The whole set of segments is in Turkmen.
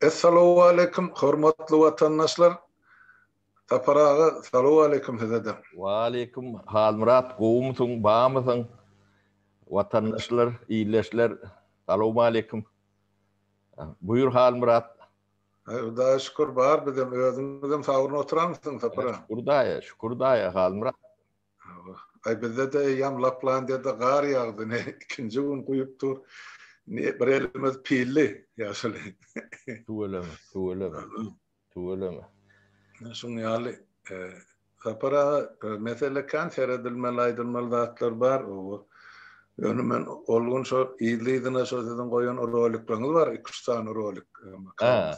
Essalowaleýkim hormatly watandaşlar Sapar aga salowaleýkim sizede. Waleýkim Halmyrat gowumysyň bamysyň watandaşlar ildeşler salowmaleýkim buýur Halmyrat. Hudaýa şükür bar bizem özüňizem sagbrin oturamysyň Sapar aga. Şükür daýa şükür daýa Halmyrat. Aý bizde-de eýýäm Laplandiýada gar ýagdy, ine ikinji gün guýup dur. Ine bir elimiz pilli ýaşuly. Tüweleme, tüweleme, tüweleme. Şuň ýaly. Sapar aga, mesele kän seredilmeli, aýdylmaly zatlar bar. Oba, ýöne men ol gün şo yzly-yzyna şo siziň goýan rolikleriňiz bar, iki-üç sany rolik. Hä.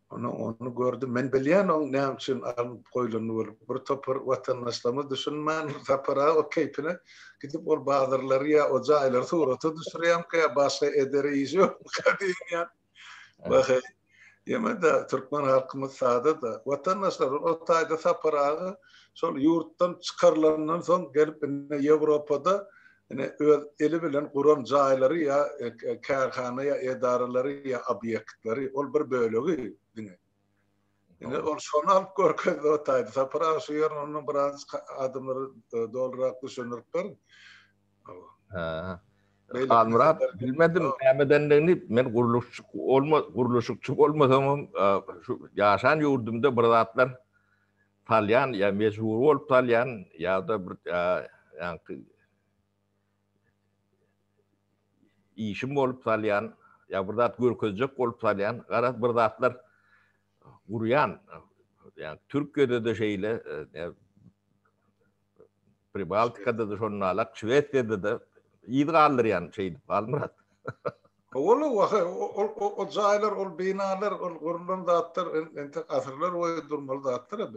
Ony ony gördüm. Men bilýän oň näme üçin alnyp goýlany bolup. Bir topar watandaşlarymyz düşünmän tapara o keýpine gidip ol bazarlary ýa o jaýlary surata düşürýärmikä ýa başga eder işi ýokmuka diýen ýa. Baha. Ýemede türkmen halkymyz sada da. Watandaşlar o taýda taparaga şol ýurtdan çykarylandan soň gelip indi Ýewropada ine, öz eli bilen guran jaýlary ýa kärhana ýa edaralary ýa obýektleri, ol bir bölegi diňe. Ine, ol şony alyp görkezdi otaýdy. Sapar aga şu ýerine ondan biraz adamlara dolurak düşündirip ber. Hä. Halmyrat, bilmedim nämedendigini, men gurluşçy bolma, gurluşykçy bolmasamam, şu ýaşan ýurdumda bir zatlar salýan ýa mejbury bolup salýan ýa-da bir ýaňky işim bolup salýan ýa bir zat görkezjek bolup salýan garaz bir zatlar gurýan ýa Türkiýede-de şeýle Pribaltikada-da şonuň ýaly, Şwesiýada-da yz galdyrýan şeýdip Halmyrat. Howala waha, ol jaýlar, ol binalar, ol gurlan zatlar entek asyrlar boýy durmaly zatlar-a,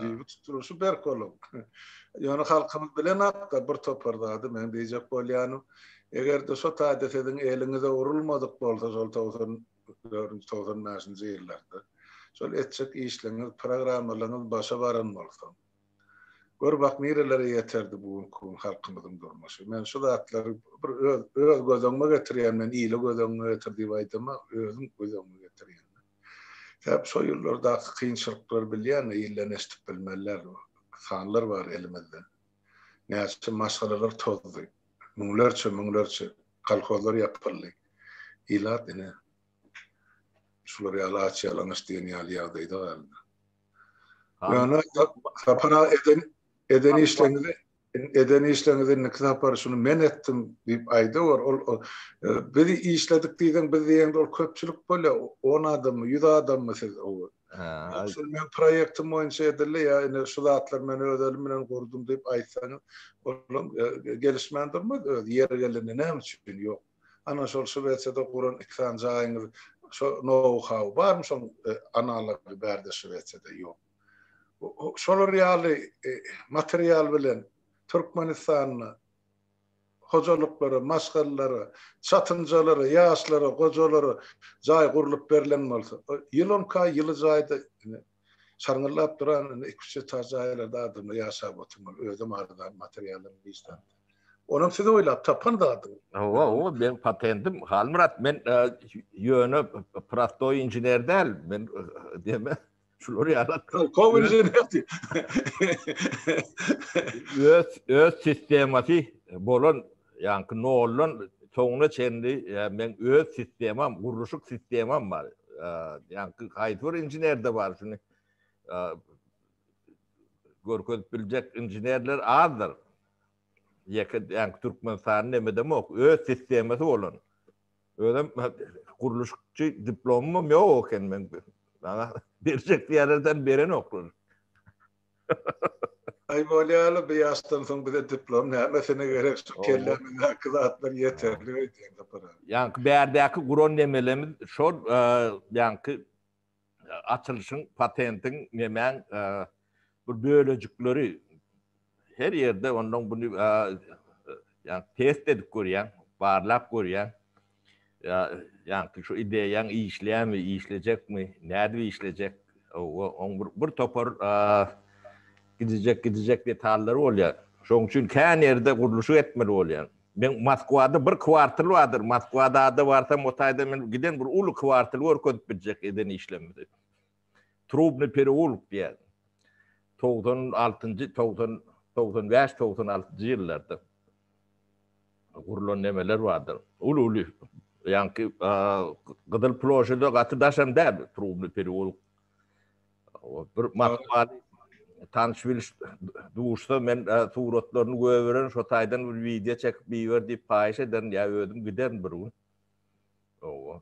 düýbi tutulyşy berk boluň. Ýöne halkymyz bilenok-da bir topar zady, meň diýjek bolýanym, eger-de şo taýda siziň eliňize urulmadyk bolsa şol togsan dördünji, togsan bäşinji ýyllarda, şol etjek işleriňiz, programmalaryňyz başa baran bolsa, Gör bak nirelere ýeterdi bu günki gün halkymyzyň durmuşy. Men şu zatlary bir öz öz göz öňüme getirýän men ile göz öňüňe getir diýip aýdama özüm göz öňüme getirýän men. Sebäp şo ýyllardaky kynçylyklary bilýän ilden eşdip bilmeliler sanlar bar elimizde. Näçe maşgalalar tozdy. Müňlerçe müňlerçe kolhozlar ýapyldy. Ilat ine şular ýaly aç ýalaňaç diýen ýaly ýagdaýda galdy. Ýöne Sapar aga eden eden işleňizi eden işleňizi indiki sapar şuny men etdim diýip aýdawor ol biz işledik diýseň biz diýende ol köpçülik bolýar on adammy ýüz adammy siz ýoksa men proýektim boýunça edildi ýa indi şu zatlar men öz elim bilen gurdum diýip aýtsaňyz olam gelişmän durmaz öz ýeri gelende näme üçin ýok Ana şol Şwesiýada guran iki sany jaýyňyz şo nou-hau barmy şoň analogy bärde Şwesiýada ýok. Şolar ýaly material bilen Türkmenistanda hojalyklara, maşgalalara, çatynjalara, ýaşlara, gojalara jaý gurlup berlen bolsa, ýyl onka ýyly jaýda Şaňňyllap duran iki-üç getar jaýlarda adamlar ýaşap oturmaly, özem arzan materiallar işläp. Onam siz oýlap tapan zadyňyz. Hawa, o meň patentim. Halmyrat, men ýöne prostoý inžener däl, men deme, şular ýaly. Tolkow inžener diý. Öz sistemasy bolan Ýaňky noldan soňuna çenli meň öz sistemam, gurluşyk sistemam bar. Ýaňky haýsy bir inženerde bar şuny görkezip biljek inženerler azdyr. Ýeke ýaňky Türkmenistanyň nemedemok, öz sistemasy bolan. Özem gurluşykçy diplomym ýok eken meň. Maňa berjek diýerlerden berenoklar. Aý bolýaly bu ýaşdan soň bize diplom nämesine gerek şu kellämizdäki zatlar ýeterlik öýdýän sapara. Ýaňky bärdäki guran nemelerimiz şol ýaňky açylyşyň patentiň nemäň bir bölejikleri her ýerde ondan buny ýaňky test edip görýäň barlap görýäň Ýa, ýaňky şu ideýaň işleýärmi, işlejekmi, nädip işlejek? Hawa, oň bir, bir topar gidijek, gidijek detallary bolýar. Şoň üçin kän ýerde gurluşyk etmeli bolýar. Men Moskwada bir kwartal bardyr, Moskwada-da barsam, o taýda men giden bir uly kwartal görkezip biljek eden işlerimizi. Trubny pereulk diýýär. Togsan altynjy, togsan, togsan bäş, togsan altynjy ýyllarda gurlan nemeler bardyr. Uly-uly, ýaňky Gyzyl ploşede gaty daşam däl, Trubny pereulk. Bir matbaly tanyş bilş duşsa, men suratlaryny göberen, şo taýdan bir wideo çekip iber diýip paýyş ederin, ýa özüm giderin bir gün. Oba.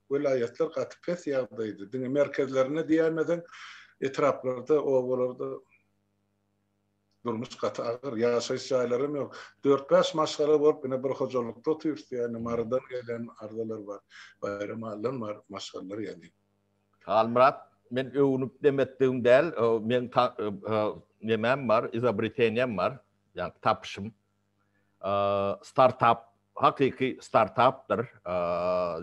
Welaýatlar gaty pes ýagdaýda, diňe merkezlerinde diýäýmeseň, etraplarda, obalarda durmuş gaty agyr, ýaşaýyş jaýlaram ýok. Dört-bäş maşgala bolup, ine bir hojalykda otyrys diýýän, Marydan gelen arzalar bar, Baýramalydan bar maşgalalar ýaly. Halmyrat, men öwnüp dem etdigim däl, meň nemäm bar, izobritenýam bar, ýa tapyşym. startap hakyky startapdyr.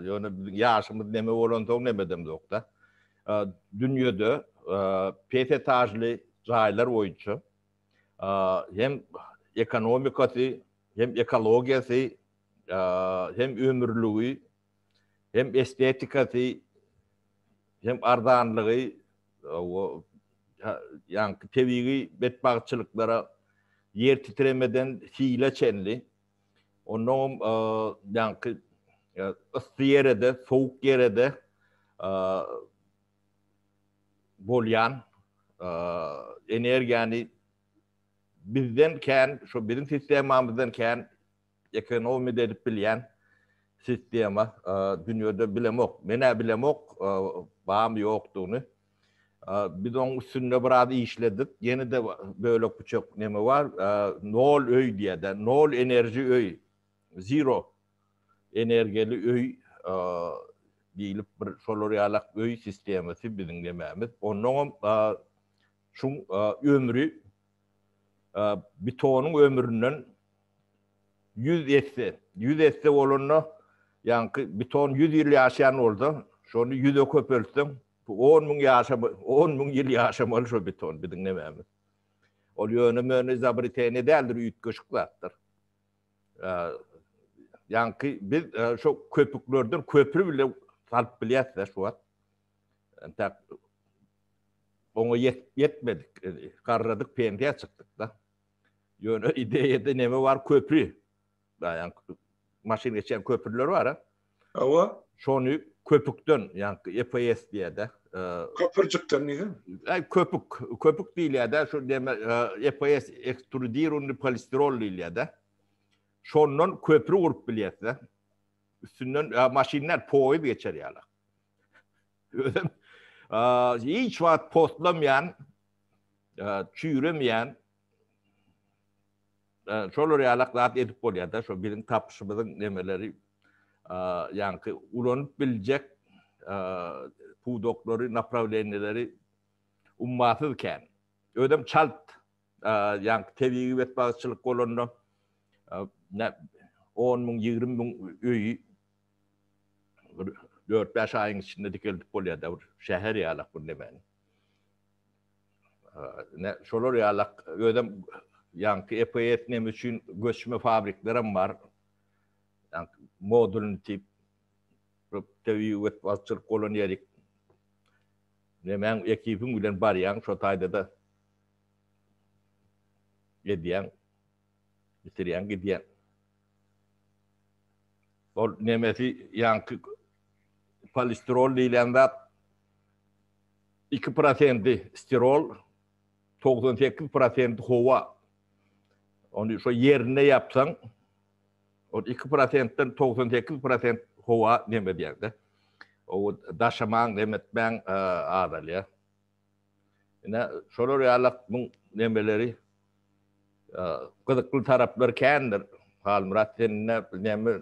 Ýöne biziň ýaşymyz neme bolansoň nemedem ýokda. Dünýede pes etažly jaýlar boýunça hem ekonomikasy, hem ekologiýasy, hem ömürligi hem estetikasy, hem arzanlygy ýaňky tebigy betbagtçylyklara ýer titremeden hile çenli, onnoňam ýaňky yssy ýere-de, sowuk ýere-de bolýan energiýany bizden kän, şo biziň sistemamyzdan kän Ekonomida edip bilýän sistema dünýede bilemok. Men-ä bilemok, bamy ýokdugyny. Biz oň üstünde biraz işledik. Ýene-de bölek-büçek neme bar. Nol öý diýýär-dä. Nol enerji öý. Zero energiýaly öý diýlip bir şolar ýalak öý sistemasy biziň nemämiz. Onnoňam şuň ömri Bitonyň ömründen ýüz esse, ýüz esse bolanda, ýaňky biton ýüz ýyl ýaşaýan bolsa, şony ýüze köpeltseň, on müň ýaşamaly, on müň ýyl ýaşamaly şo biton biziň nemämiz. Ol ýöne-möne izobreteniýe däldir, üýtgeşik zatdyr. Ýaňky biz şo köpüklerden köpri bile salyp bilýäs-dä şu wagt. Entäk oňa ýetmedik, garradyk pensiýa çykdyk-da. Ýöne ideýada näme bar? Köpri. Daýan maşyn geçýän köprüler bar-a. Hawa. Şony köpükden, ýagny EPS diýýär-de. Köpürjikden diýýär. Aý köpük, köpük diýilýär-de, şu näme EPS ekstrudirowanyý polistirol diýilýär-de. Şondan köpri gurup bilýäs-de. Üstünden maşynlar, poýuz geçer ýaly. Özüm hiç wagt postlamaýan, çüýremeýän şolar ýalak zat edip bolýar-da, şo biziň tapyşymyzyň nemeleri ýaňky ulanyp biljek pudaklary, naprawleniýeleri ummasyz kän. Özüm çalt ýaňky tebigy betbagtçylyk bolanda on müň, ýigrimi müň öýi bir dört-bäş aýyň içinde dikeldip bolýar-da, bir şäher ýalak bir nemäni. Ine, şolar ýalak, özem ýaňky EPS neme üçin göçme fabriklerem bar, ýaňky modulny tip, tebigy betbagtçylyk bolan ýerik, nemäň ekibiň bilen barýaň, şo taýda-da, Gezýäň. Bitirýäň gidýäň. Ol nemesi ýaňky polistirol diýlen zat iki prosenti stirol, togsan sekiz prosenti howa. Ony şo ýerinde ýapsaň, ol iki prosentden togsan sekiz prosent howa nem edýär-de. Oba daşamaň, nem etmäň azalýar. Ine, şolar ýaly muň nemeleri, gyzykly taraplary kändir. Halmyrat, sen ine, näme,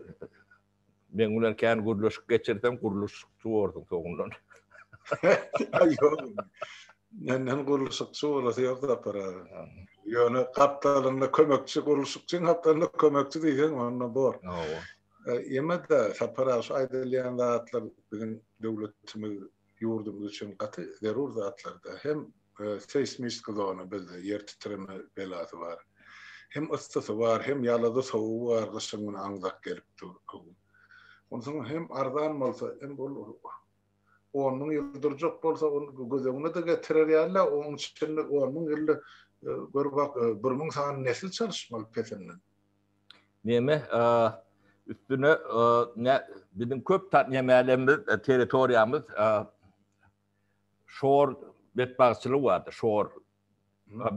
meň bilen kän gürleşik geçirseň, gurluşykçy borsuň soňundan. Ýok, menden gurluşykçy bolasy ýok Sapar aga. Ýöne gapdalynda kömekçi, gurluşykçyň gapdalynda kömekçi diýseň, onda bor. Hawa. Ýene-de, Sapar aga, şu aýdylýan zatlar biziň döwletimiz ýurdumyz üçin gaty zerur zatlarda hem seýsmistka zona bizde ýer titreme belasy bar. Hem yssysy bar, hem ýalada sowugy bar, gyşyň güni aňzak gelip dur öň. Onsoň hem arzan bolsa, hem ol on müň ýyl durjak bolsa, ol göz öňüne-de getirer ýaly-a, oň içinde on müň ýylda gör bak, bir müň sany nesil çalyşmaly pesinden. Neme üstüne ne biziň köp nemelerimiz territoriýamyz şor betbagtçylygy bardy şor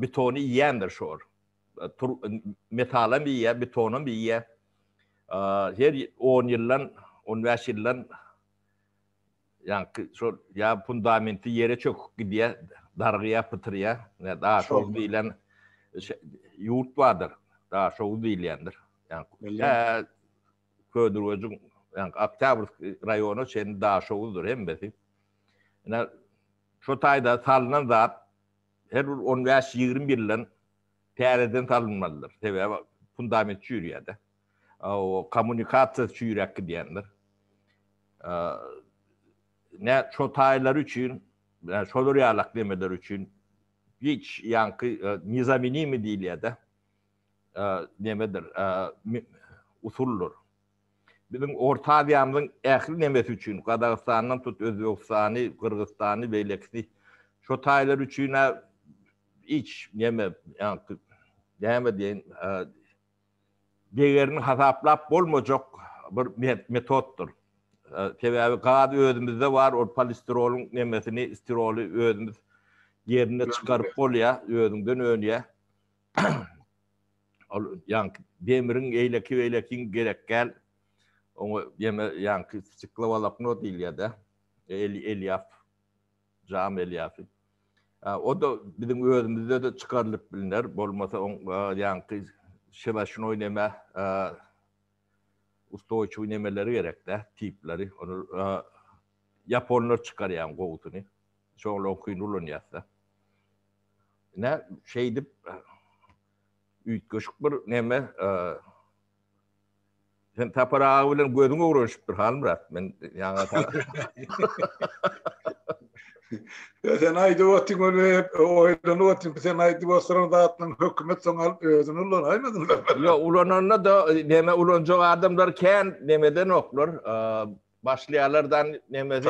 betony iýendir şor metalam iýýär betonam iýýär her on ýyldan on bäş ýyldan Ýaňky şol ýa fundamenti ýere çöküp gidýär, darygýar, pytyrýar. Ýa Daşoguz diýlen ýurt bardyr. Daşoguz diýilýändir. Ýaňky tä Ködürwejiň, ýaňky Oktýabrskiý raýona çenli Daşoguzdyr hemmesi. Ine, şo taýda salnan zat her bir on bäş-ýigrimi ýyldan täzeden salynmalydyr. Sebäbi fundament çüýrýär-de. o kommunikasiýasy çüýräp gidýändir. Nä şo taýlar üçin, şolar ýalak demeler üçin hiç ýaňky nizamenimi diýilýär-de, nemedir, usuldyr. Biziň Orta Aziýamyzyň ähli nemesi üçin, Gazagystandan tut Özbegistany, Gyrgyzystany, beýlekisi, şo taýlar üçin-ä hiç neme, ýaňky näme diýeýin, degerini hasaplap bolmajak bir metotdyr. Sebäbi gaz özümizde bar, ol polistirolyň nemesini, stiroly özümiz ýerinde çykaryp bolýar, özüňden önýär. Ol ýaňky demiriň eýleki-beýlekiň gerekgäl. Oňa ýene ýaňky stiklowolokno diýilýär-de, elýaf. Jam elýafi. O-da biziň özümizde-de çykarylyp bilner, bolmasa oň ýaňky şebaşnoý neme, ustoýçiwi nemeleri gerek-dä, tipleri. Ony ýaponlar çykarýan gowusyny. Şoňly oňkyny ulanýas-da. Ine, şeýdip, üýtgeşik bir neme, Sen Tapar aga bilen gözüň öwrenişipdir Halmyrat. Men ýaňa Sen aýdyp otyň ol hep oýlanyp otyň sen aýdyp otyň zatlaryň hökümet soň alyp özüni ulan aýmadyň. Ýa ulananda da näme ulanjak adamlar kän nämeden oklar. Başlaýarlardan näme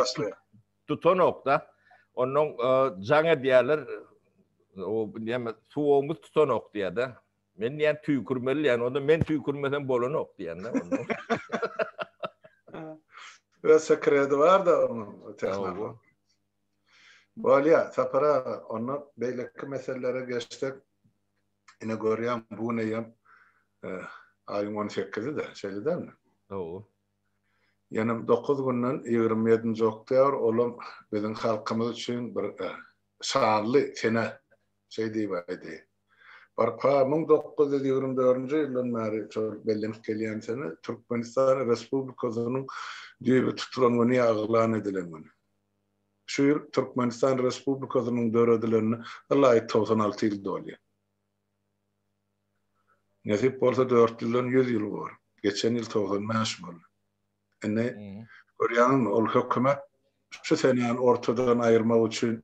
tutanokda. Ondan jaň edýärler. O näme suwumyz tutanok diýýärde. Men diýen tüýkürmeli diýen, onda men tüýkürmesem bolanok diýen de onda. Öz sekredi bar da onuň tehnara. Bolýa, Sapar aga, onda beýleki meselelere geçsek, ine görýän bu gün eýýam aýyň on sekizide, şeýle dälmi? Hawa. Ýene dokuz günden ýigrimi ýedinji oktýabr, olam biziň halkymyz üçin bir şanly sene şeý diýip aýdy. Barka müň dokuz ýüz ýigrimi dördünji ýyldan bäri şol bellenip gelýän sene Türkmenistan Respublikasynyň düýbi tutulan güni ýaglan edilen gün. Şu ýyl Türkmenistan Respublikasynyň döredilenine ylaýyk togsan alty ýyl dolýar. Nesip bolsa dört ýyldan ýüz ýyl bor. Geçen ýyl togsan bäş boldy. Indi görýäňizmi, ol hökümet şu senäni ortadan aýyrmak üçin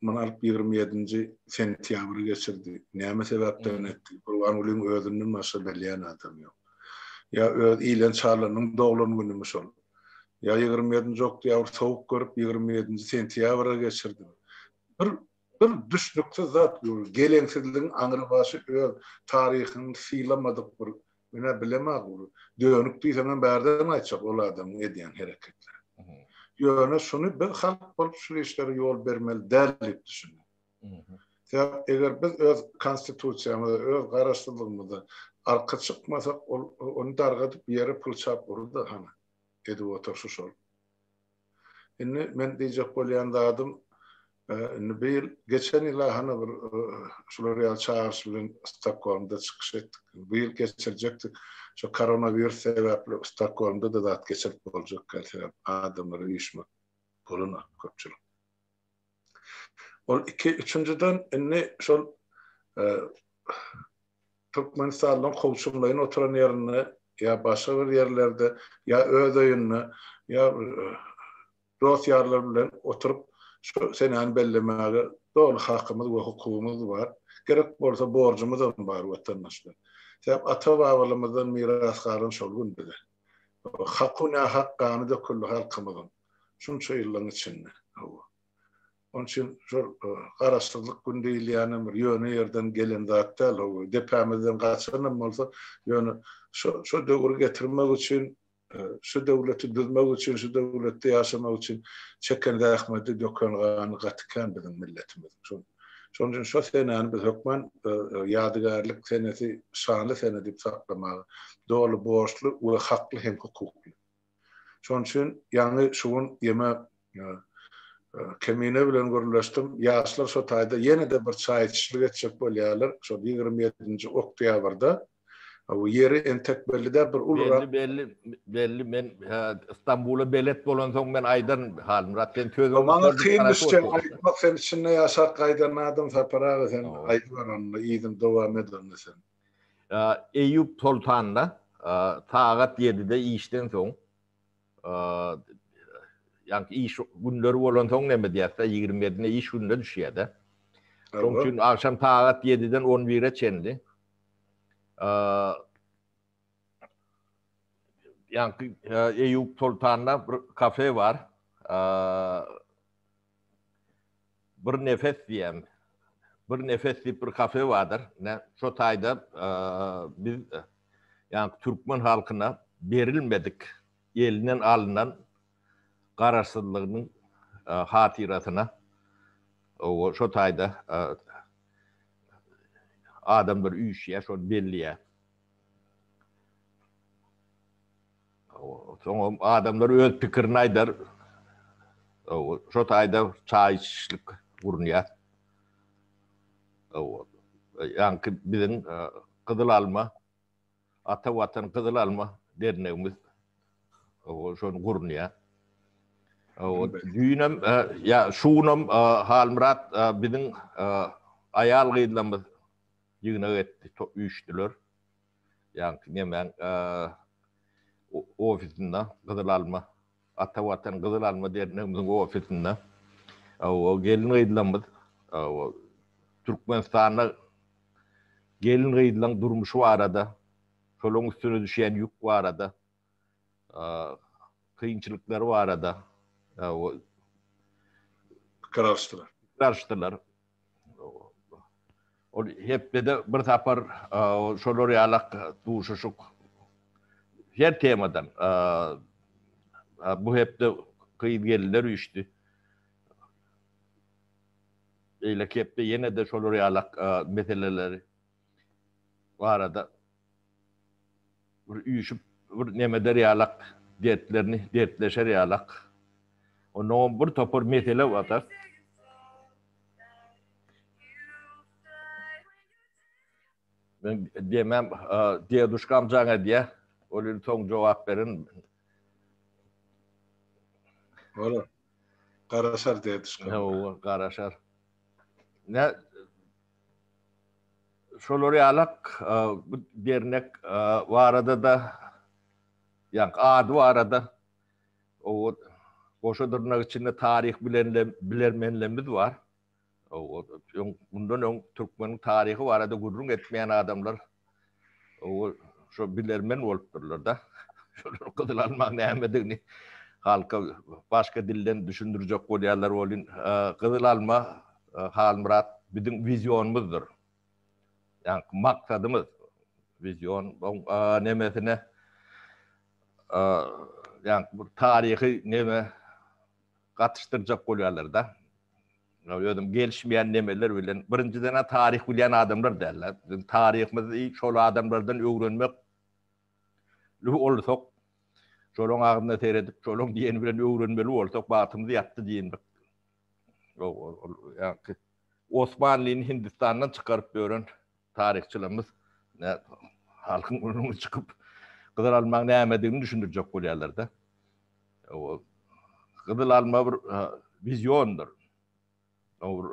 Muny alyp ýigrimi ýedinji sentýabry geçirdi. Näme sebäpden etdi? Gurbangulyň özünden başga bilýän adamy ýok. Ýa öz Ilen Çalynyň doglan günümi şol? Ýa ýigrimi ýedinji oktýabry sowuk görüp ýigrimi ýedinji sentýabra geçirdimi? Bir bir düşnüksiz zat bu. Geleňsizligiň aňrybaşy öz taryhyny sylamadyk bir Ine, bilemag ol. Dönük diýseňem bärden aýtjak ol adamyň edýän hereketleri. Ýöne şuny biz halk bolup şul işlere ýol bermeli däl diýip düşünýän. Sebäp eger biz öz konstitusiýamyza, öz garaşsyzlygymyza arka çykmasak, ol ony dargadyp ýere pul çap urar-da hany. Edip oturşy şol. Indi men diýjek bolýan zadym, indi bu ýyl, geçen ýyl-a hany bir şular ýaly çagyryş bilen Stokgolmda çykyş etdik. Bu ýyl geçirjekdik. Şu koronawirus sebäpli Stokgolmda-da zat geçirip boljak däl, sebäbi adamlar üýşmek bolan-a köpçülik. Ol iki, üçünjiden, indi şol Türkmenistanlyň kowçumlaýyn oturan ýerinde ýa başga bir ýerlerde, ýa öz öýünde, ýa dost-ýarlary bilen oturyp şu senäni bellemäge doly hakymyz we hukugymyz bar. Gerek bolsa borjumyzam bar, watandaşlar. Sebäp ata-babalarymyzdan miras galan şol gün bize. Haky nähak gany döküldi halkymyzyň şunça ýyllaryň içinde. Hawa. Onuň üçin şol Garaşsyzlyk güni diýilýänem bir ýöne ýerden gelen zat däl. Hawa, depämizden gaçanam bolsa, ýöne şu döwri getirmek üçin, şu döwleti düzmek üçin, şu döwletde ýaşamak üçin çeken zähmeti, döken gany gaty kän biziň milletimiziň. Şol Şonuň üçin şo senäni biz hökman ýadygärlik senesi, şanly sene diýip saklamaga doly borçly we hakly hem hukukly. Şonuň üçin ýaňy şu gün ýeme Kemine bilen gürleşdim. Ýaşlar şo taýda ýene-de bir çaý içişlik etjek bolýarlar. Şol ýigrimi ýedinji oktýabrda Bu ýeri entek belli däl, bir ulurak. Belli, belli, belli. Men Stambula belet bolansoň men aýdaryn, Halmyrat, sen sözüňi... Maňa kyn düşse aýtmak, sen içinde ýaşap gaýdan adam, Sapar aga, sen aýdyber onda, yzyny dowam et onda sen. Eýýup soltanda sagat ýedide işden soň, ýaňky iş günleri bolansoň näme diýýäs-dä, ýigrimi ýedine iş gününe düşýär-dä. Şonuň üçin agşam sagat ýediden on bire çenli Ýaňky Eýýup Soltanda bir kafe bar. Bir nefes diýýän. Bir nefes diýip bir kafe bardyr. Ne, şo taýda biz ýaňky türkmen halkyna berilmedik, elinden alnan Garaşsyzlygynyň hatyrasyna şo taýda adamlar üýşýär, şony belleýär. Soňam adamlar öz pikirini aýdar. Şo taýda çaý içişlik gurunýar. Ýaňky biziň Gyzyl alma Ata Watan Gyzyl Alma dernegimiz şony gurunýar. Düýnem, ýa şu günem Halmyrat biziň aýal-gyzlarymyz ýygnak etdi, üýşdüler. Ýaňky nemäň ofisinde Gyzyl Alma Ata Watan Gyzyl Alma dernegimiziň ofisinde gelin-gyzlarymyz Türkmenistanda gelin-gyzlaryň durmuşy barada, şolaryň üstüne düşýän ýük barada, kynçylyklary barada pikir alyşdylar. Ol hepdede bir sapar şolar ýalak duşuşyk her temadan bu hepde gyz gelinler üýşdi. Beýleki hepde ýene-de şolar ýalak meseleleri barada Bir üýşüp, bir nem eder ýalak, dertlerini dertleşer ýalak. Onnoňam bir topar mesele bar-da. Men demem, deduşkam jaň edýä. Ol indi soň jogap berin. Bolar. Garaşar deduşka. Hawa, garaşar. Nä Şolar ýalak bu dernek barada-da, ýa ady barada owod goşa dyrnak içinde taryh bilenle bilermenlemmiz bar. Owod öň mundan öň türkmeniň taryhy barada gürrüň etmeýän adamlar Owal şo bilermen bolupdyrlar-da. Şolar gyzyl almaň nämedigini halka başga dilden düşündirjek bolýarlar welin, gyzyl alma Halmyrat biziň wizionymyzdyr. Ýaňky maksadymyz, wizion nemesine ýaňky bir taryhy neme gatyşdyrjak bolýarlar-da. Özüm gelişmeýän nemeler bilen, birinjiden-ä taryh bilýän adamlar däldir. Biziň taryhymyzy şol adamlardan öwrenmek li bolsak, şolaryň agzyna seredip, şolaryň diýeni bilen öwrenmeli bolsak, bagtymyz ýatdy diýindik. Ýok, ol ýa-ki Osmanlyny Hindistandan çykaryp ýören Taryhçylarymyz halkyň öňüne çykyp gyzyl almaň nämedigini düşündirjek bolýarlar-da. Gyzyl alma bir wiziondyr. Ol bir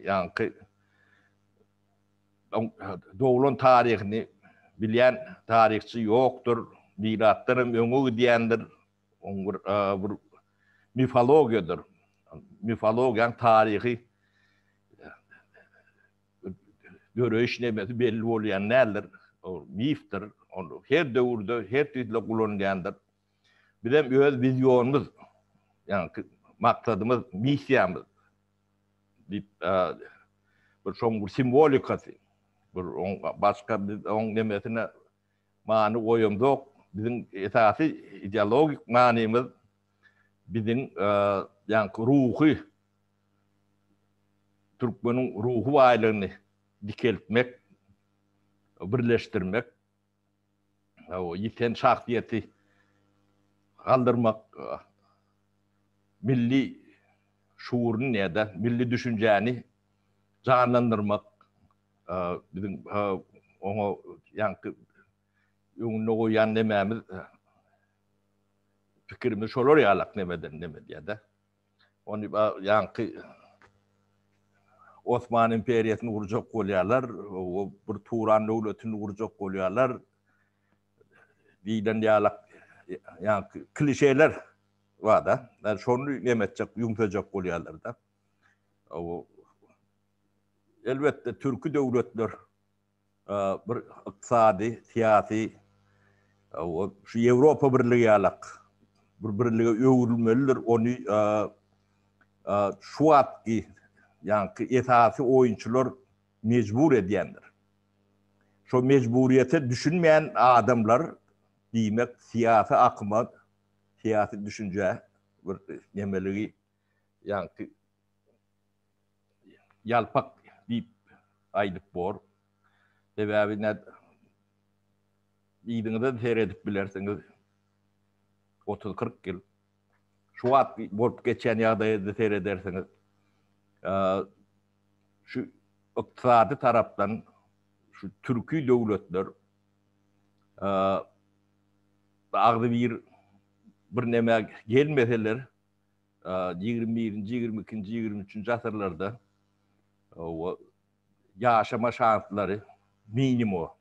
ýaňky doglan taryhyny bilýän taryhçy ýokdur. Milatdan hem öňe gidýändir. Oň bir bir mifologiýadyr. Mifologiýanyň taryhy döreýiş nebesi belli bolýan däldir. Ol mifdir. Ony her döwürde, her tirde ulanylýandyr. Bizem öz wizionymyz, ýaňky maksadymyz, missiýamyz diýip, bir şoň bir simwolikasy, bir oň başga biz oň nemesine many goýamzok. Biziň esasy ideologik manymyz biziň ýaňky ruhy türkmeniň ruhy baýlygyny dikeltmek, birleşdirmek, ýiten şahsyýeti galdyrmak, milli şuuryny näde, milli düşünjäni janlandyrmak, biziň oňa ýaňky öňünde goýan nemämiz, pikirimiz şolar ýalak nemeden neme diýýär-de. Ony ýaňky Osman imperiýasyny gurjak bolýarlar, bir Turan döwletini gurjak bolýarlar diýlen ýalak ýaňky klişeler bar-da. Şony neme etjek, ýumsajak bolýarlar-da. Elbetde, türki döwletler bir ykdysady, syýasy we şu Ýewropa Birligi ýalak bir birlige öwrülmelidir, ony şu wagtky ýaňky esasy oýunçylar mejbur edýändir. Şo mejburyýete düşünmeýän adamlar diýmek syýasy akyma, syýasy düşünjä bir nemeligi Ýaňky ýalpak diýip aýdyp bor. Sebäbi näd yzyňyza seredip bilersiňiz. Otuz-kyrk ýyl şu wagt bolup geçen ýagdaýa seredersiňiz. Şu ykdysady tarapdan şu türki döwletler agzybir birneme gelmeseler, ýigrimi birinji, ýigrimi ikinji, ýigrimi üçünji asyrlarda ýaşama şanslary minimuma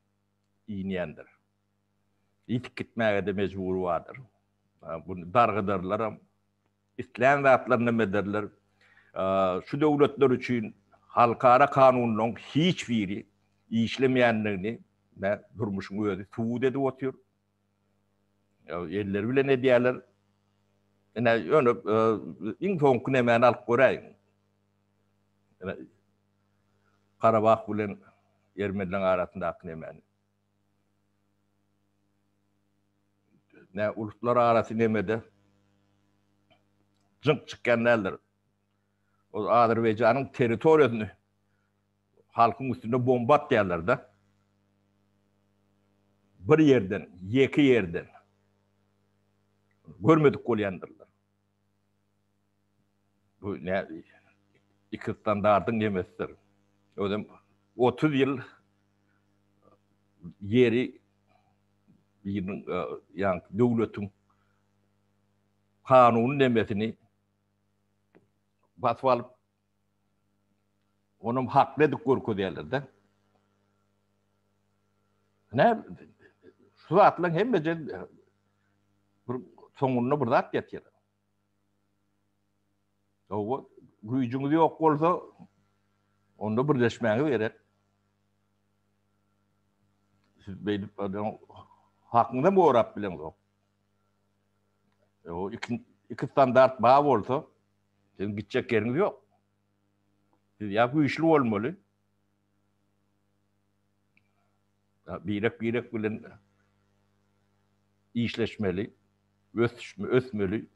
inýändir. Ýitip gitmäge-de mejbury bardyr. Buny dargadarlaram, islän zatlaryny hem ederler. Şu döwletler üçin halkara kanunlaryň hiç biri işlemeýändigini durmuşyň özi subut edip otyr. Elleri bilen edýärler. Ine, ýöne e, iň soňky nemäni alyp göräýiň. Ine, Karabah bilen Ermenileň arasyndaky nemäni. Ne uluslar arasy nemede jyňk çykýan däldir. O Azerbaýjanyň territoriýasyny Halkyň üstüne bomba atýarlarda. Bir ýerden, ýeke ýerden görmedik bolýandyrlar. Bu ne iki standardyň nemesidir. Özem 30 ýyl ýeri biriniň ýa döwletiň kanuny nemesini basyp alyp Onam hakly edip görkezýärler-de. Nä, şu zatlaryň hemmesi bir soňunda bir zat ýetýär. Owa, güýjüňiz ýok bolsa, onda birleşmäňiz gerek. Siz beýdip adam hakyňyza gorap bileňok. O iki iki standart bar bolsa, Siziň gitjek ýeriňiz ýok. Siz ýa güýçli bolmaly, birek-birek bilen işleşmeli, ösmeli.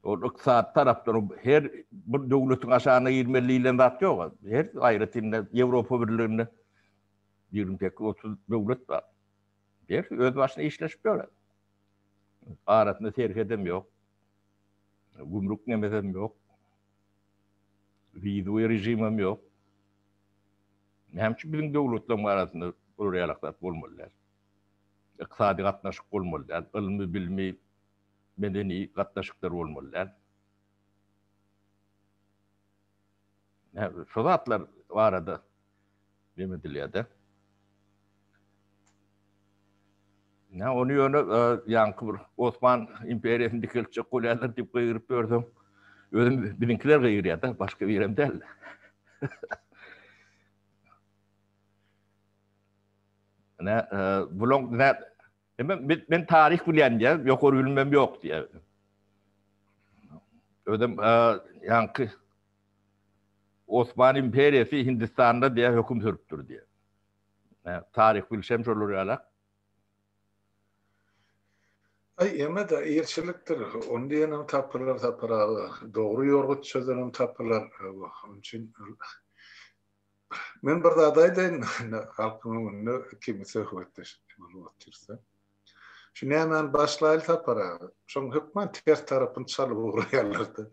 Ol ykdysady tarapdan her bir döwletiň aşagyna girmeli diýlen zat ýok. Her aýratynda Ýewropa Birliginde ýigrimi sekiz, otuz döwlet bar. Her öz başyna işleşip ýör. Arasynda serhedem ýok. Gümrük nemesem ýok. Wizowy režimem ýok. Näme üçin biziň döwletleriň arasynda bular ýaly zat bolmaly däl? Ykdysady gatnaşyk bolmaly däl, ylmy-bilmi, medeni gatnaşyklar bolmaly däl? Şu zatlar barada nem edilýär-de? Nä, ony ýöne ýaňky bir Osman imperiýasyny dikeltjek bolýarlar diýip gygyryp ýörseň, özüm biziňkiler gygyrýar-da, başga birem däl. Nä, bulaň nä Men, men, men taryh bilýän diýär, ýokary bilimim ýok diýär. Özüm, ýaňky Osman imperiýasy Hindistanda diýär, höküm sürüpdir diýär. Hä, taryh bilşem şolar ýalak. Ay eme da ilçilikdir. Onu diyenem tapırlar tapır abi. Doğru yorgut çözenem tapırlar. Onun için Men bir zat aýdaýyn, halkyň öňünde ikimiz söhbetdeş bolup otyrsa. Şu nämäni başlaýly Sapar aga. Şoň hökman ters tarapyny çalyp ugraýarlar-da.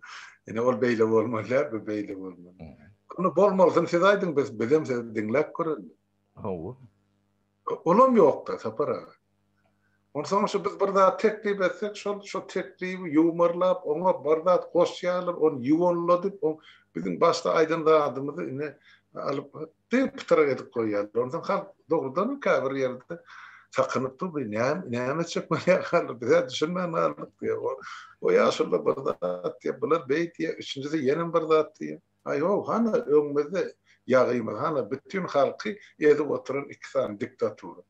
Ine ol beýle bolmaly däl, bu beýle bolmaly. Onda bolmalysyny siz aýdyň, biz bizem sizi diňläp görelim. Hawa. Olam ýokda Sapar aga. Onsoň şu biz bir zat teklip etsek şol şo teklibi ýuwmarlap oňa bir zat goşýarlar ony ýuwanladyp o biziň başda aýdan zadymyzy ine alyp diýip pytyrak edip goýýarlar onsoň halk dogrudanam käbir ýerde sakynyp dur bu näme näme etjek bolýar halk bizä düşünmän galdyk diýip o o ýaşulyda bir zat diýip bular beý diýip üçünjisi ýenem bir zat diýip Aý-ho, hana öňümizde ýagymyz, hana bütin halky ezip oturan iki sany diktatura.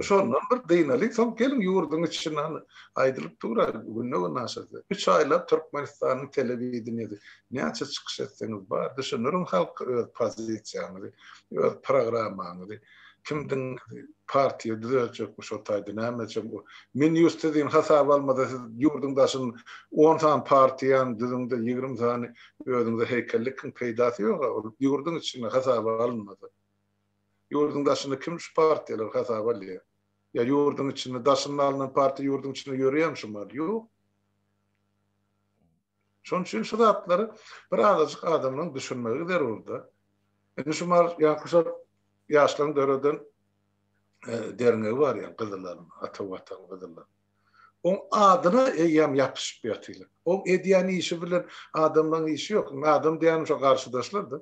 Şondan bir dynalyň, soň geliň ýurduň içini hany aýdylyp dur-a, günde-gün aşa-da. Üç aýlap Türkmenistanyň telewideniýesi näçe çykyş etseňiz bar, düşündiriň halka öz pozisiýaňyzy, öz programmaňyzy. Kimdiň partiýa düzeltjekmi şol taýda näme etjek bu. Men ýurt sizin hasaba almada siz ýurduň daşyn on sany partiýany düzüňde ýigrimi sany özüňize heýkel dikiň peýdasy ýoga ol ýurduň içinde hasaba alynmasa. Ýurduň daşynda kim şu partiýalary hasaba alýa. Ýa ýurduň içinde daşynda alnan partiýa ýurduň içinde ýörýämi şu maly ýok. Şonuň üçin şu zatlary bir azajyk adamlaryň düşünmegi zerurda. Indi şu mal ýaňkyşar ýaşlaryň döreden derňegi bar ýa gyzylaryň, ata watan gyzylaryň. Oň adyna eýýäm ýapyşyp ýatylar. Oň edýän işi bilen adamlaryň işi ýok. Adam diýýänim şu garşydaşlardy.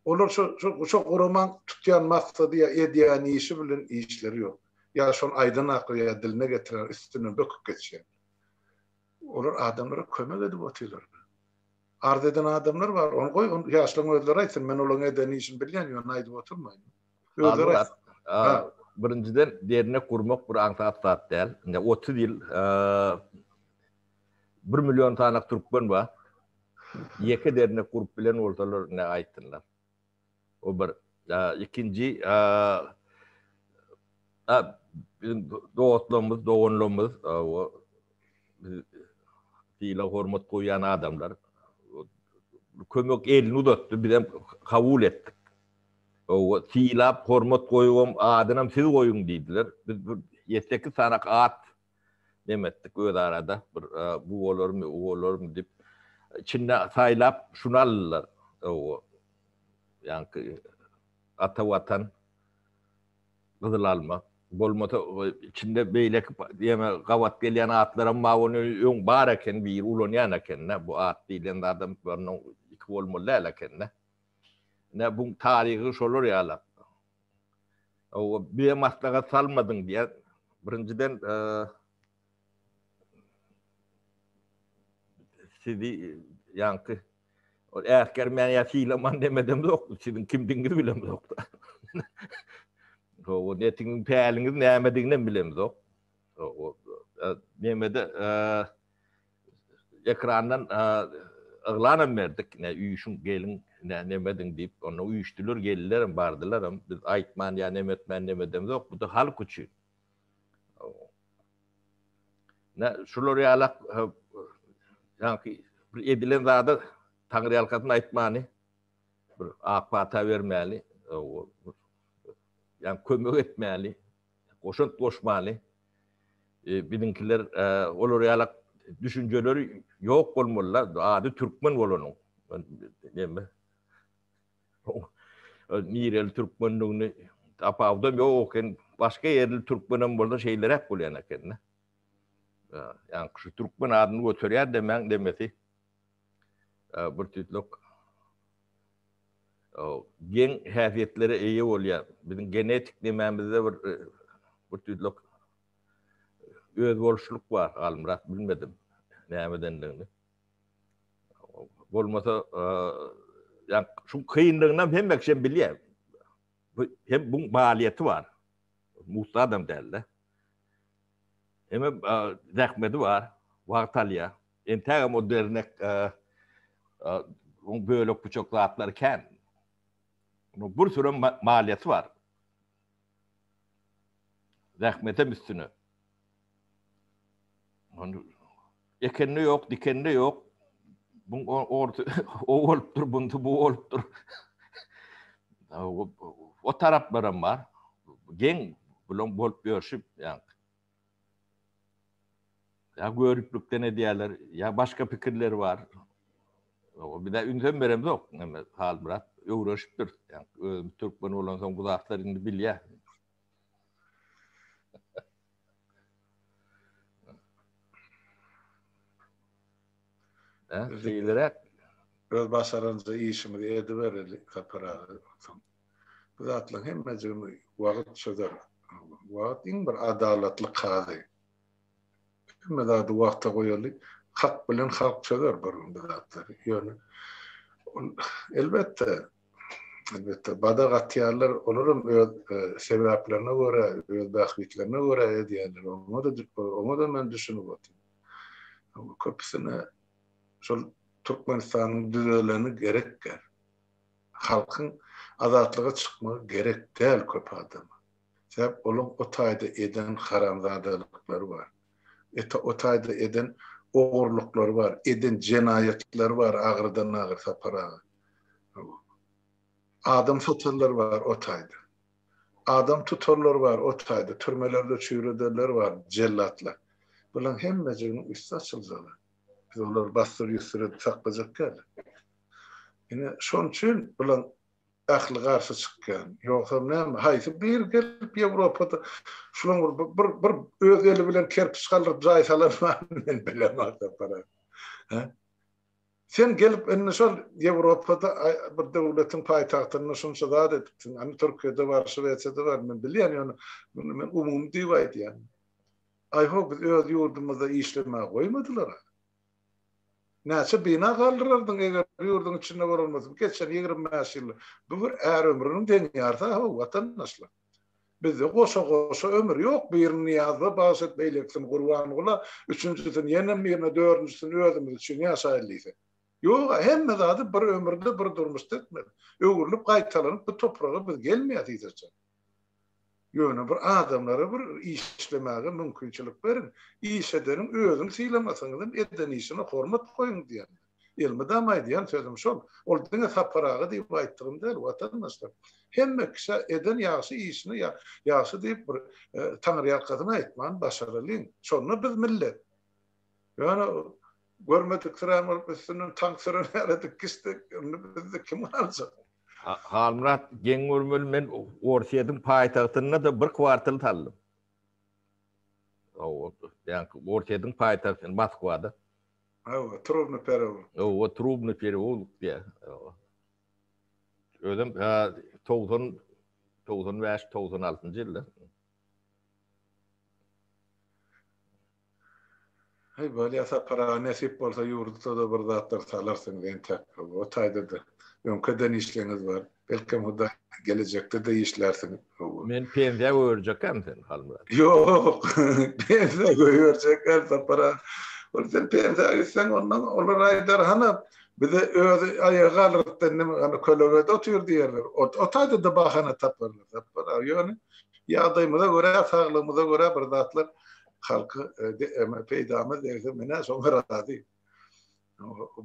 Olar şu şu guraman tutýan maksady ýa edýän işi bilen işleri ýok. Ýa şony aýdan akyl ýa diline getiren üstünden böküp geçýär. Olar adamlara kömek edip otyrlar. Arz eden adamlar bar. Ony goý, ony ýaşlaryň özleri aýtsyn. Men olaryň eden işini bilýän, ýöne aýdyp oturmaýyn. Özleri aýtsyn. Birinjiden, dernek gurmak bir aňsat zat däl. Indi otuz ýyl bir million sanak türkmen bar. Ýeke dernek gurup bilen bolsalar, ine, aýtsynlar. O bir ikinji biziň dostlarymyz, doganlarymyz, sylag hormat goýýan adamlar kömek elini uzatdy, biz hem kabul etdik. Owa sylap hormat goýubam adynam siz goýuň diýdiler. Biz bir ýedi-sekiz sany at neme etdik öz arada bir bu bolarmy o bolarmy dip içinde saýlap şunu aldylar o ýaňky ata watan gyzyl alma bolmasa içinde beýleki diýme gabat gelýän atlaram bar ony öň bar eken biri ulanýan ekende bu at diýlen zadam iki bolmaly däl ekende ne bu taryhy şolar ýalak Ow, bize maslahat salmadyň diýýär. Birinjiden, sizi ýaňky ol äsgermän ýa sylaman demedem zok, siziň kimdigiňizi bilem zok. Ow, netigiň päliňiz nämediginem bilem zok. Ow, nemede, ekrandan yglanam berdik, ne üýşüň, geliň, ne neme ediň diýip, onda üýşdüler, geldilerem, bardylaram. Biz aýtman ýa neme etmän neme edemizok, bu-da halk üçin. Nä, şular ýalak ýaňky bir edilen zada taňryýalkasyn aýtmany, bir ak pata bermäli, ýa kömek etmäli. goşant goşmaly. Biziňkiler olar ýalak düşünjeleri ýok bolmaly, ady türkmen bolanyň. Näme? Nireli türkmenligini tapawudam ýok eken, başga ýerli türkmenem bolsa şeýleräk bolýan eken-de. Ýa, şu türkmen adyny göterýär demäň demesi. bir tutluk geň häsiýetlere eýe bolýan, biziň genetik nemämizde bir bir tutluk özboluşlyk bar, Halmyrat bilmedim nämedendigini. Bolmasa ýa şu kynlygyny hem hemme kişi bilýär. Bu hem bu maýyýeti bar. Musa adam däldi. Hemme zähmeti bar, wagt alýar. Entägem o dernek oň bölek buçak zatlary kän. Onuň bir sürem maliýesi bar. Zähmetem üstüne. Onu ekende ýok, dikende ýok. Bu orta o bolupdyr, bundy bu bolupdyr. O taraplar hem bar. Geň bulan bolup ýörşüp, ýa Ýa göriplikden edýärler, ýa başga pikirleri bar. Biz-ä ünsem beremzok, neme Halmyrat öwrenişipdir. Özümiz türkmen bolansoň bu zatlar indi bilýär. Öz başarança işimizi edibereli Kapyr aga. Bu zatlaryň hemmejigini wagt çözer. Wagt iň bir adalatly kazy. Hemme zady wagta goýaly. Hak bilen halk çözer bir gün bu zatlary. Ýöne ol elbetde, elbetde badak atýarlar, olaram öz sebäplerine görä, öz bähbitlerine görä edýärler. Oňa-da, oňa-da men düşünip otyryn. Köpüsine şol Türkmenistanyň düzeleni gerek. Halkyň azatlyga çykmagy gerek däl köp adama. Sebäp olaň o taýda eden haramzadalyklary bar. Eta o taýda eden ogurlyklary bar, eden jenaýatlary bar agyrydan agyr Sapar aga. Adam satanlar bar o taýda. Adam tutanlar bar o taýda, türmelerde çüýredenler bar jellatlar. Bulaň hemmejiginiň üsti açyljalar. Biz olary basdyryp-üsdürip saklajak däl. Ine, şonuň üçin bulaň ähli garşy çykýan. Ýogsam näme, haýsy biri gelip Ýewropada şulaň bir bir öz eli bilen kerpiç galdyryp jaý salan barmy men bilemok sapara. Hä? Sen gelip indi şol Ýewropada bir döwletiň paýtagtynda şunça zat edipsiň. Indi Türkiýede bar, Şwesiýada bar, men bilýän ýöne men umumy diýip aýdýan. Aýho biz öz ýurdumyzda işlemäge goýmadylar. Näçe bina galdyrardyň, eger ýurduň içinde bolan bolsa, geçen ýigrimi bäş ýylda? Bu bir är ömrüniň deňýarysy-haw, watandaşlar. Bizde goşa-goşa ömür ýok, birini Nyýazowa bagyş et, beýlekisini Gurbangula, üçünjisini ýenem birine, dördünjisini özümiz üçin ýaşaýaly diýsek. Ýog-a, hemme zady bir ömürde, bir durmuşda etmeli. Öwrülip, gaýtalanyp bu topraga biz gelmeýäs hiç haçan. Ýöne bir adamlara bir işlemäge mümkinçilik beriň. Iş edeniň özüni sylamasaňyzam eden işine hormat goýuň diýen. Elmydama aýdýan sözüm şol. Ol diňe Sapar aga diýip aýtdygym däl, watandaşlar. Hemme kişä eden ýagşy işine ýagşy diýip bir taňryýalkasyn aýtman başaralyň. Şonda biz millet. Ýöne görmediksirän bolup üstünden tank süren ýalydyk gitdik. Indi bizi kim aljak? Halmyrat, geň görmeli, men Orsýetiň paýtagtynda-da bir kwartal saldym. Hawa, ýaňky Orsýetiň paýtagty Moskwada. Hawa, Trubny perewolik. Hawa, Trubny perewolik diýýär. Hawa. Özüm ha togsan, togsan bäş, togsan altynjy ýylda. Heý, bolýa, Sapar aga, nesip bolsa ýurduda-da bir zatlar salarsyňyz entäk. O taýda-da öňki eden işleňiz bar. Belkem, Hudaý, gelejekde-de işlärsiňiz. Hawa. Men pensiýa goýberjekäm seni, Halmyrat. Ýok, pensiýa goýberjekäm, Sapar aga. Ol sen pensiýa gitseň, ondan olar aýdar, hany, bize öz aýaga galrtdan näme, hany, kölegede otur diýerler. O taýda-da bahana taparlar, Sapar aga. Ýöne ýagdaýymyza görä, saglygymyza görä bir zatlar halky peýdamyz degse menä şoňa razy.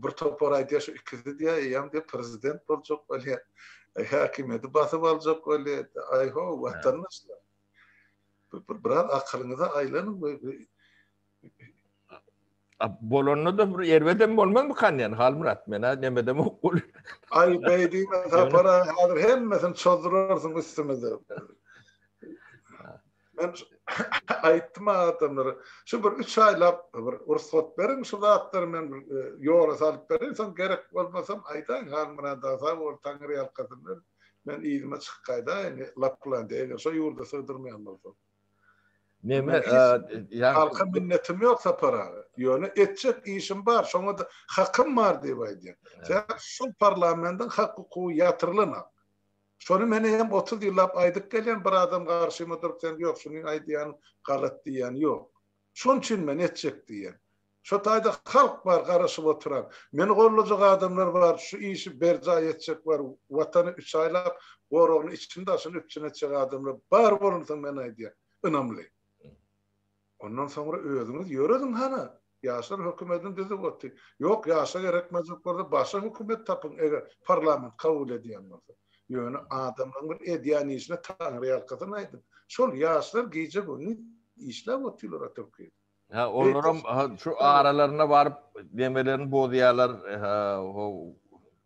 Bir topar aýdýar şu ikisi diýýär eýýäm diýýär prezident boljak bolýar. Häkimiýeti basyp aljak bolýar. Aýho watandaşlar. Biraz akylyňyza aýlanyň we Bolanda-da bir erbedem bolmazmykan diýen Halmyrat men-ä nemedem ok bol. Aý beý diýme Sapara häzir hemmesini çozdurarsyň üstümize. Men aýtdym adamlara şu bir 3 aýlap bir ursat beriň şu zatlary men e, ýola salyp berin soň gerek bolmasam aýdaň Halmyrat aga bol taňry ýalkasyn men yzyma çykyp gaýdaýyn Laplandiýa eger şu ýurda sygdyrmaýan bolsam. Neme, halka minnetim ýok Sapar aga. Ýöne etjek işim bar, şoňa-da hakym bar diýip aýdýan. Sebäbi şu parlamentiň hak-hukugy ýatyrylan ak. Şony men hem otuz ýyllap aýdyp gelýän, bir adam garşyma durup sen ýok şuny aýdýan galat diýýän ýok. Şonuçin men etjek diýýän. Şo taýda halk bar garaşyp oturan. Meni gollajak adamlar bar, şu işi berjaý etjek bar, Watany üç aýlap, goragyny içini-daşyny üpjün etjek adamlar bar bolunsoň men aýdýan, ynamly. Ondan soňra özüňiz ýörediň hany. Ýaşlar hökümetini düzüp otyr. Ýok, ýaşa gerekmejek bolsa başga hökümet tapyň, eger parlament kabul edýän bolsa. Ýöne adamlaryň bir edýän işine Taňryýalkasyn aýdyň. Şol ýaşlar gije-gündiz işläp otyrlar oturyp geýdip. Ha, olaram şu aralarına baryp demelerini bozýarlar,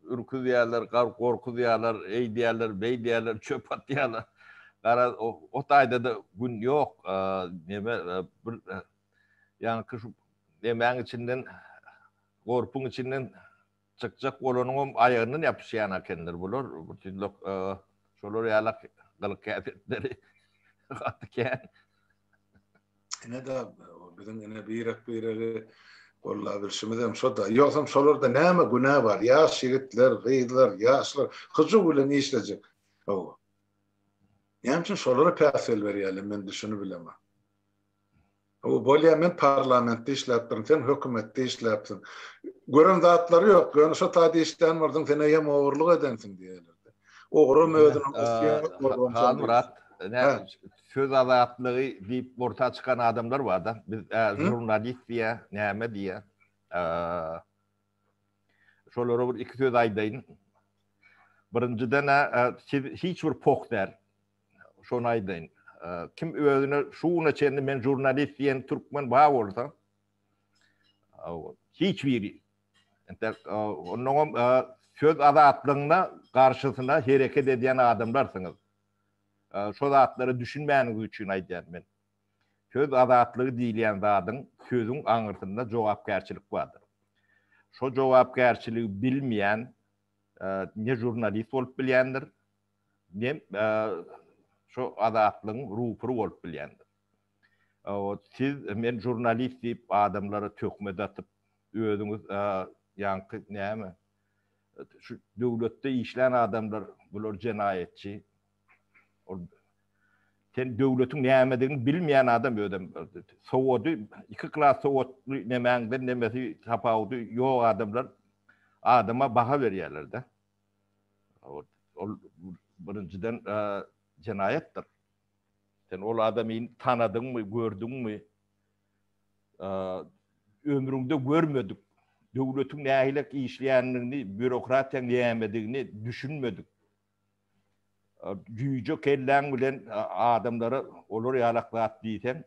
ürküzýärler, gorkuzýarlar, eýdýärler, beýdýärler, çöp atýarlar. Gara, o taýda-da gün ýok. Neme, bir ýaňky şu nemäň içinden, gorpuň içinden Çykjak bolanyňam aýagyndan ýapyşýan akenler bular, bir tüýdlek şolar ýalak gylyk-häsiýetleri gaty kän. Ine-de, biziň ine birek-biregi gollabilşimizem şo-da. Ýogsam şolarda näme günä bar, ýaş ýigitler, gyzlar, ýaşlar hyjuw bilen işlejek. Hawa. Näme üçin şolara päsgel berýärler, men düşünibilemok. Bolýa men parlamentde işläpdirin sen hökümetde işläpsiň. Gören zatlary ýok ýöne şo taýda işlän bolsaň sen eýýäm ogurlyk edensiň diýerlerdi. Ogrum özüniň Halmyrat söz azatlygy diýip orta çykan adamlar barda biz žurnalist diýä näme diýä şolara bir iki söz aýdaýyn. Birinjiden siz hiç bir poh däl. şony aýdaýyn. Kim özüne şu güne çenli men žurnalist diýen türkmen bar bolsa, hiç biri. Entek ondan hem söz azatlygyna garşysyna hereket edýän adamlarsyňyz. Şu zatlara düşünmäniňiz üçin aýdýan men. Söz azatlygy diýilýän zadyň sözüň aňyrsynda jogapkärçilik bardyr. Şu jogapkärçiligi bilmeýän ne žurnalist bolup bilýändir, Men şu Azatlygyň rupury bolup bilýändim. Siz men žurnalist diýip adamlara töhmet atyp, özüňiz ýaňky näme, şu döwletde işlän adamlar bular jenaýatçy. Ol sen döwletiň nämedigini bilmeýän adam özem. Sowady, iki klas sowatly nemäňden nemesi tapawudy ýok adamlar adama baha berýärler-de. Ol birinjiden jenaýatdyr. Sen ol adamy tanadyňmy, gördüňmi? Ömrüňde görmedik, döwletiň nähili işleýändigini, býurokratiýaň nämedigini düşünmedik. Jüýje kelläň bilen adamlara olar ýalak zat diýseň,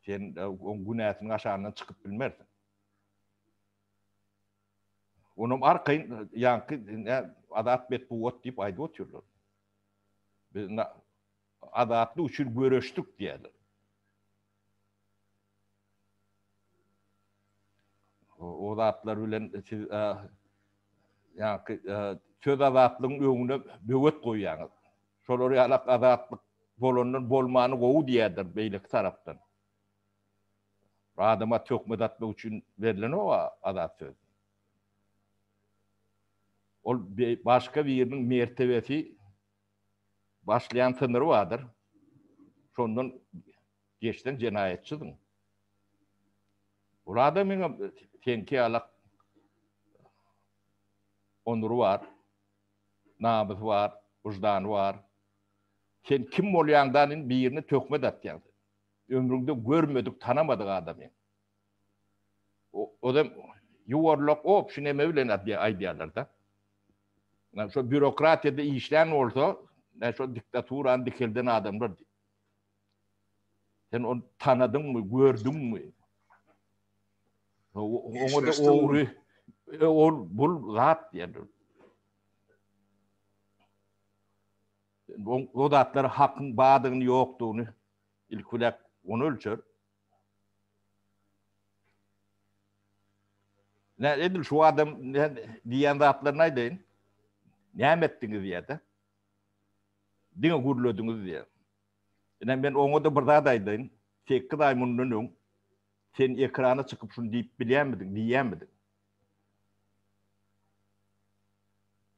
sen oň günäsini aşandan çykyp bilmersiň. Onam arkaýyn ýaňky Azat Betbugat diýip aýdyp otyrlar. Biz azatlyk üçin göreşdik diýýärler. O zatlar bilen siz ýaňky söz azatlygyň öňüne böwet goýýaňyz. Şolar ýalak azatlyk bolandan bolmany gowy diýýärler beýleki tarapdan. Adama töhmet atmak üçin berlenok-a azat söz. Ol başga biriniň mertebesi başlaýan synyry bardyr. Şondan geçseň jenaýatçydyň. Ol adamyň hem seňki ýaly onury bar, namysy bar, wyždany bar. Sen kim bolýaňdan birini töhmet atýaň. Ömrüňde görmedik, tanamadyk adamy. Ozem ýuwarlak obşi neme bilen aýdýarlar-da. Ýa şo býurokratiýada işlän bolsa, ýa şo diktaturany dikelden adamlar diýip. Sen ony tanadyňmy, gördüňmi? Oňa-da ogry, ol bul zat diýerler. O zatlar hakyň bardygyny ýokdugyny ilki bilen ony ölçer. Nä edil şu adam diýen zatlaryny aýdaýyn. Näme etdiňiz diýýärdi. Diňe gürlediňiz diýýär. Ine men oňa da bir zat aýdaýyn. 8 aý mundan öň sen ekrana çykyp şuny diýip bilýärmidiň, diýýärmidiň?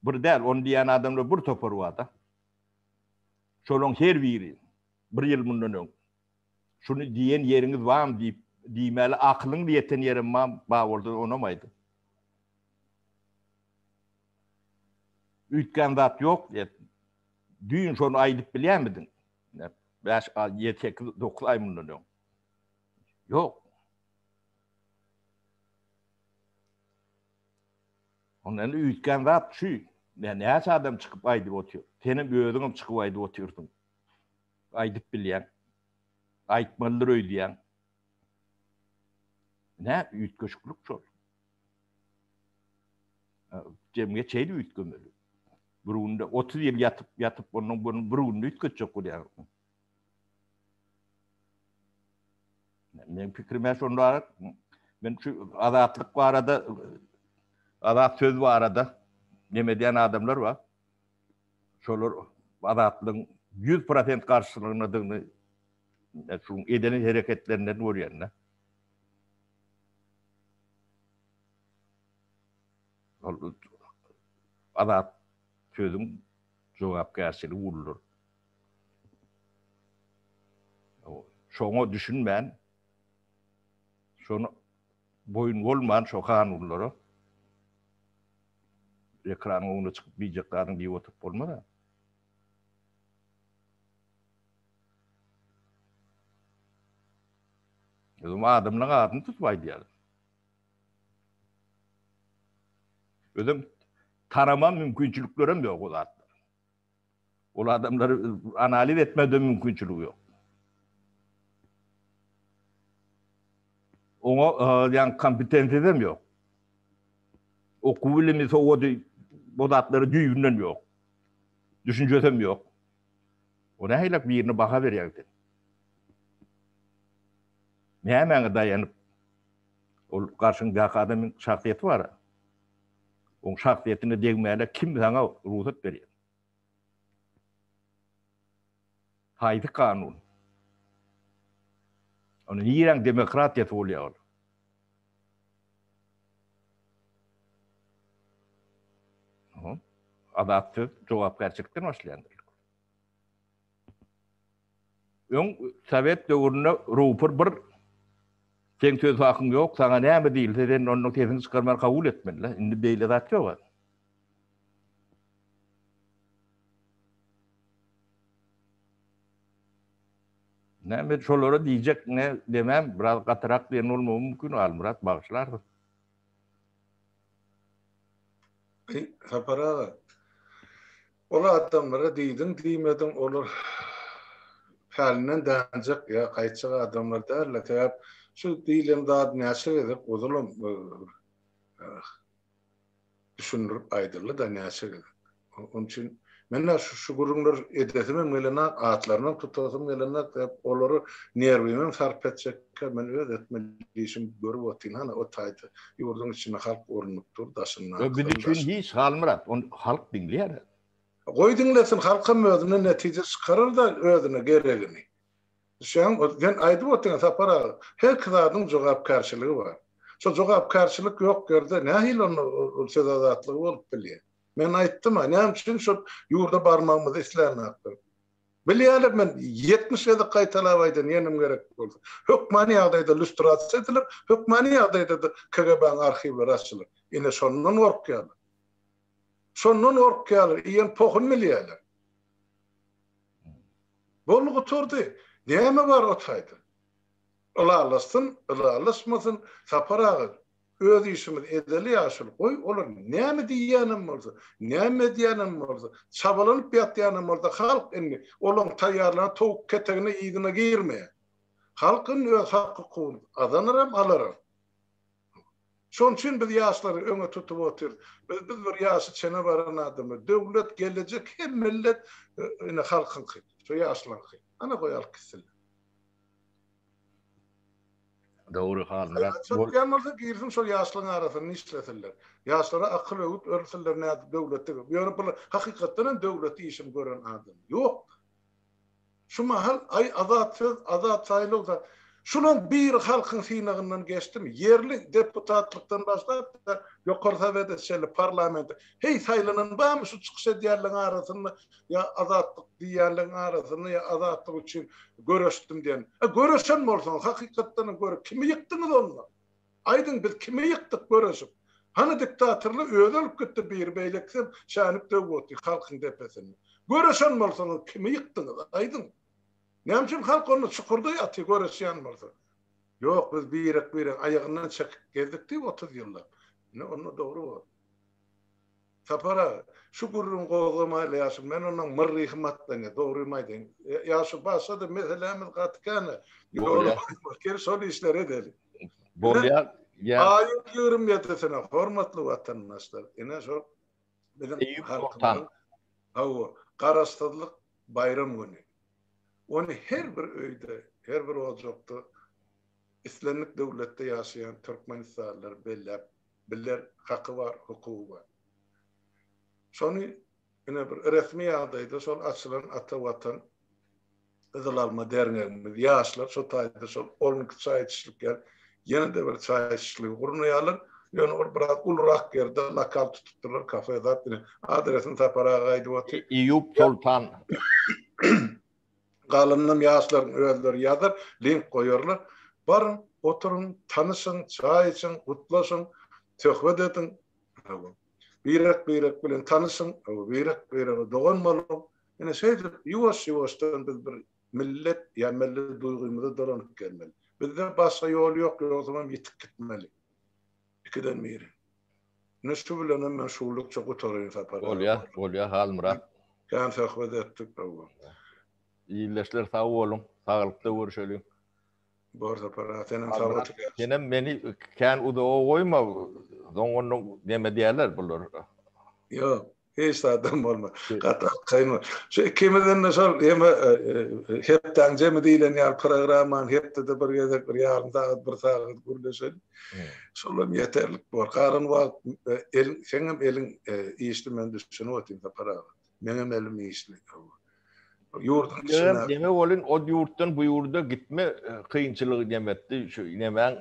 Bir däl, ony diýýän adamlar bir topar bar-da. Şolaryň her biri bir ýyl mundan öň Şuny diýen ýeriňiz barmy diýip, diýmäli akylyňyz ýeten ýerem barmy? Bar bolsa, onam aýdyň. Üýtgän zat ýok diýip, düýn şony aýdyp bilýärmidiň? Bäş, ýedi, sekiz, dokuz aý mundan öň. Ýok. Onda indi üýtgän zat şu, nä, näçe adam çykyp aýdyp otyr. Senem özüňem çykyp aýdyp otyrsyň. Aýdyp bilýäň. Aýtmalydyr öýdýäň. Nä, üýtgeşiklik şol. Jemgyýet şeýle üýtgemeli. Bir günde otuz ýyl ýatyp, ýatyp, ondan bir günde üýtgetjek bolýar. Men pikrime şonda men şu azatlyk barada azat söz barada neme diýen adamlar bar. Şolar azatlygyň 100% garşylygyndadygyny şu eden hereketlerinden görýän-de. Ol azat sözüň jogapkärçiligi uludyr. Şoňa düşünmän, şony boýun bolman şo kanunlara ekranyň öňüne çykyp biýjek zadyň diýip oturyp bolmaz-a. Özüm adamlaň adyny tutup aýdýaryn. Özüm tanamam mümkinçiliklerim ýok o zatlar. Ol adamlary analiz etmäge de mümkinçiligi ýok. Oňa ýaňky kompetensiýasy hem ýok. Okuw bilimi, sowady, bu zatlary düýbünden ýok. Düşünjesi hem ýok. O nähilek birine baha berýäň sen? Nämäňe daýanyp ol garşyňdaky adamyň şahsyýeti bar-a. Oň şahsyýetine degmäne kim saňa rugsat berýär? Haýsy kanun? Onda niräň demokratiýasy bolýar ol? Adat söz jogapkärçilikden başlaýandyr. Öň sowet döwründe rupor bir seň söz hakyň ýok, saňa näme diýilse sen ondan sesiňi çykarman kabul etmeli. Indi beýle zat ýok-a. Näme şolara diýjek ne demem, biraz gatyrak diýen bolmagy mümkin, Halmyrat bagyşlarsyň. Sapar aga. Ol adamlara diýdiň diýmediň olar pälinden dänjek ýa gaýtjak adamlar däldir sebäp şu diýlen zat näçe gezek ozalam düşündirip aýdyldy da näçe gezek onuň üçin menä şu şu gürrüňler edesim hem gelenok atlaryny hem tutasym gelenok sebäp olary nerwimem sarp etjekkä men öz etmeli işimi görüp otyryn hany o taýda Ýurduň içinde halk urnup dur, daşynda. Ýok biz üçin hiç Halmyrat, ony halk diňleýär. Goý diňlesin, halkam özüne netije çykarar-da özüne geregini. Düşýäňmi? O sen aýdyp otyň Sapar aga, her ki zadyň jogapkärçiligi bar. Şo jogapkärçilik ýok ýerde nähili onda ol söz azatlygy bolup bilýär? Men aýtdym-a, näme üçin şo ýurda barmagymyzy islänoklar? Bilýärler, men ýetmiş gezek gaýtalap aýdan ýenim gerek bolsa. Hökmany ýagdaýda lýustrasiýa ediler, hökmany ýagdaýda-da KGB-niň arhiwleri açylar. Ine, şondan gorkýarlar. Şondan gorkýarlar, iýen pohuny bilýärler. Boldy, gutardy. Näme bar o taýda? Ylalaşsyn, ylalaşmasyn, Sapar aga, Öz işimiz edeli ýaşuly, goý, olar näme diýýänem bolsa, näme edýänem bolsa, çabalanyp ýatýanam bolsa, halk indi olaryň taýýarlan towuk ketegine, yzyna girmeýär. Halk indi öz hak-hukugyny gazanaram, alaram. Şonuň üçin biz ýaşlary öňe tutup otyrys. Biz, biz bir ýaşy çene baran adamlar. Döwlet, gelejek hem millet ine halkyňky, şu ýaşlaryňky. Ana goýalyk gitsinler. Dogry hal Myrat bol. Çatýan bolsa girsin şol ýaşlyň arasynda işlesinler. Ýaşlara akyl öwüt örsinler nädip döwletde gep. Ýöne bular hakykatdan hem döwlet işini gören adam ýok. Şu mahal aý azat söz azat saýlaw da şulan biri halkyň synagyndan geçdimi ýerli deputatlykdan başlap da ýokary sowede çenli parlamente heý saýlanan barmy şu çykyş edýänleň arasynda ýa azatlyk diýýänleň arasynda ýa azatlyk üçin göreşdim diýen. E göreşen bolsaňyz hakykatdanam göre kimi ýykdyňyz onda? Aýdyň biz kimi ýykdyk göreşip? Hany diktatorly özi ölüp gitdi biri beýlekisem çänip döwüp otyr halkyň depesinde. Göreşen bolsaňyz kimi ýykdyňyz aýdyň? Näme üçin halk onda çukurda ýatyr göreşýän bolsa? Ýok biz birek-biregiň aýagyndan çekip gezdik diýip otuz ýyllap. Ine onda dogry bor. Sapar aga, şu gürrüňi gozgamaýly ýaşym, men onuň myrryhym atlaňýa, dogrymy aýdaýyn. Ýaşy barsa-da, meselämiz gaty kän-ä. Ýola goýma, gel şol işleri edeliň. Bolýar, ýa. Aýyň ýigrimi ýedisine, hormatly watandaşlar, ine şol biziň halkymyzyň, hawa, Garaşsyzlyk baýram güni. Ony her bir öýde, her bir ojakda, islendik döwletde ýaşaýan türkmenistanlylar belläp biler, haky bar, hukugy bar. Şony ine bir resmi ýagdaýda şol açylan Ata Watan Gyzyl Alma derňegimiz, ýaşlar şo taýda şol on iki çaý içişlik ýer, ýene-de bir çaý içişligi gurnaýarlar. Ýöne ol biraz ulurak ýerde lokal tutupdyrlar, kafe zat. Ine, adresini Sapar aga aýdyp otyr. Eýýup Soltan. Galyndam ýaşlaryň özleri ýazar, link goýarlar. Baryň, oturyň, tanyşyň, çaý içiň, gutlaşyň, söhbet ediň. Hawa. Birek-birek bilen tanyşyň, hawa, birek-birege dogan boluň. Ine, şeýdip, ýuwaş-ýuwaşdan biz bir millet, ýa milli duýgymyza dolanyp gelmeli. Bizde başga ýol ýok, ýogsam hem ýitip gitmeli. Ikiden biri. Indi şu bilenem men şuwlukça gutaraýyn Sapar aga. Bolýa, bolýa Halmyrat. Kän söhbet etdik hawa. Ildeşler sag boluň, saglykda görüşeliň. Bor Sapar aga, senem sag ol. Senem meni kän uzaga goýma, soň onda neme diýerler bular. Ýok, Hiç zadam bolma. Gaty kaýma. Şu ikimizden de şol hem e, e, hepdaň jemi diýlen ýaly programmany hepdede bir gezek bir ýarym sagat, bir sagat gürleşelim. Şol hem ýeterlik bor. Galan wagt e, el sen hem eliň işli men düşünip otyryn Sapar aga. Men hem elim işli. Ýurduň içinde. Demek bolun o ýurtdan bu ýurda gitme kynçylygy demetdi. Şu nemäň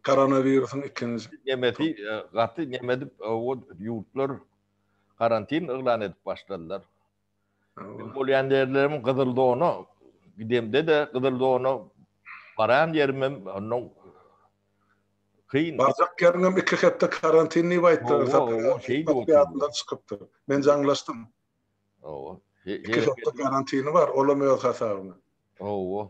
koronawirusyň ikinji Nemesi e, gaty neme edip e, o ýurtlar karantin yglan edip başladylar. Men bolýan ýerlerim gyzyl zona gidemde de gyzyl zona baran ýerim hem ondan kyn. Barjak ýeriňem iki hepde karantin diýip aýtdylar. Owa, owa, Sapar şeýdi Sapar oturdy. ýadyndan çykypdyr. Men jaňlaşdym. Owa. He- Iki he- hepde karantini bar, olam öz hasabyna. Owa.